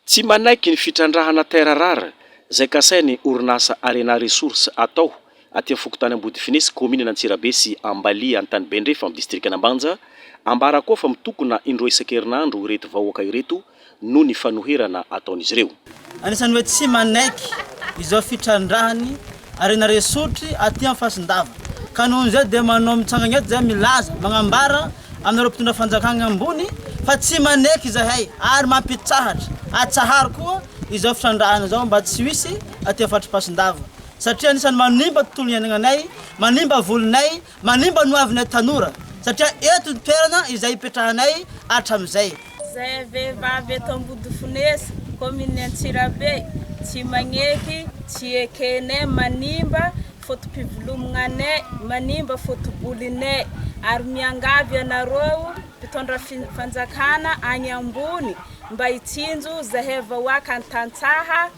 Tsy manaiky ny fitrandrahana terre rare izay kasain'ny orinasa Arena Resources atao aty amin'ny fokontany Ambodifinesy, kaominina Antsirabe sy Ambalia Antanibendrefa amin'ny distrikan'Ambanja, ambara koa fa mitokona indroa isan-kerinandro ireto vahoaka ireto noho ny fanoherana ataon'izy ireo. Anisan'ny hoe tsy manaiky izao fitrandrahany Harena resotry aty am fasindava. Ka noho izay dia manao mitsangana eto izay milaza, magnambara aminareo mpitondra fanjakana ambony fa tsy maneky izahay ary mampitsahatra, atsaharo koa izao fitrandrahana izao mba tsy ho hisy aty am fatr'i fasindava satria anisany manimba tontolo iainananay, manimba volinay, Manimba ny hoavinay tanora satria eto ny toerana izay ipetrahanay hatramin'izay. Izay vehivavy eto Ambodifonesa, kaominin'i Antsirabe, tsy magnety, tsy ekenay, manimba foto-pivolomognanay, manimba foto-bolinay. Ary miangavy anareo mpitondra fanjakana agny ambony mba hitsinjo zahay vahoaka an-tantsaha.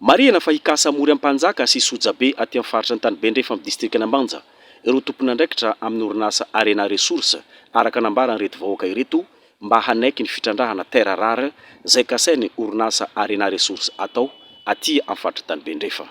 Marihana fa hikasa mory ampanjaka sy sojabe aty amin'ny faritra Antanibendrefa amin'ny distrikan'Ambanja ireo tompon'andraikitra amin'ny orinasa Arena Ressources araka nambaran'ireto vahoaka ireto mba hanaiky ny fitrandrahana terres rares izay kasain'ny orinasa Arena Ressources atao aty amin'ny faritr'Antanibendrefa.